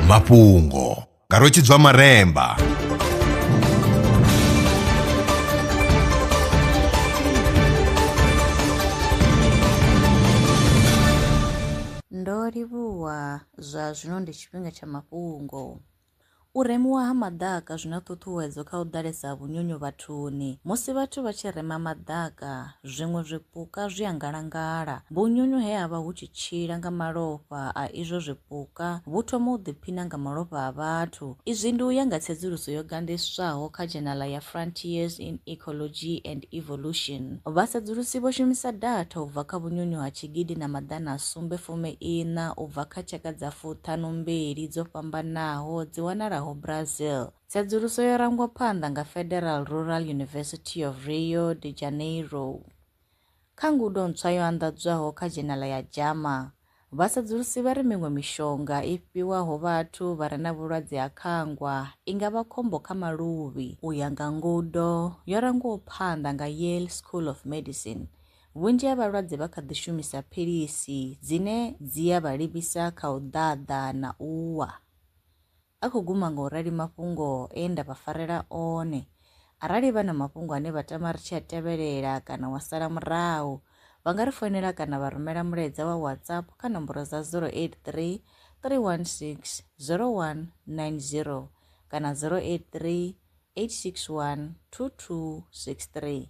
mafhungo nga rwetshidzwa maremba ndo livhuwa zwa zwino ndi tshifhinga tsha mafhungo U remiwa ha maḓaka zwi na ṱhuṱhuwedzo kha u ḓalesa ha vhunyunyu vhathuni. Musi vhathu vha tshi rema maḓaka, zwiṅwe zwipuka zwi a ngalangala. Vhunyunyu he ha vha hu tshi tshila nga malofha a izwo zwipuka vhu thoma u ḓiphina nga malofha a vhathu. Izwi ndi u ya nga tsedzuluso yo gandiswaho kha dzhenaḽa ya Frontiers in Ecology and Evolution. Vhasedzulusi vho shumisa datha u bva kha vhunyunyu ha tshigidi na maḓana a sumbe fumi iṋa u bva kha tshaka dza fuṱhanu mbili dzo fhambanaho dzi wanalaho Brazil. Tsedzuluso yo rangwa phanḓa nga Federal Rural University of Rio de Janeiro. Kha ngudo ntswa yo anḓadzwaho kha dzhenala ya JAMA, vhasedzulusi vha ri miṅwe mishonga i fhiwaho vhathu vha re na vhulwadze ha khangwa i nga vha khombo kha maluvhi. U ya nga ngudo yo rangwaho phanḓa nga Yale School of Medicine, Vhunzhi ha vhalwadze vha kha ḓi shumisa philisi dzine dzi ya vha livhisa kha u ḓaḓa na u wa. A khou guma nga u rali mafhungo e nda vha farela one. Arali vha na mafhungo ane vha tama ri tshi a tevhelela kana wa sala murahu, vha nga ri foinela kana vha rumela mulaedza wa WhatsApp kha nomboro dza 083 316 0190 kana 083 861 2263.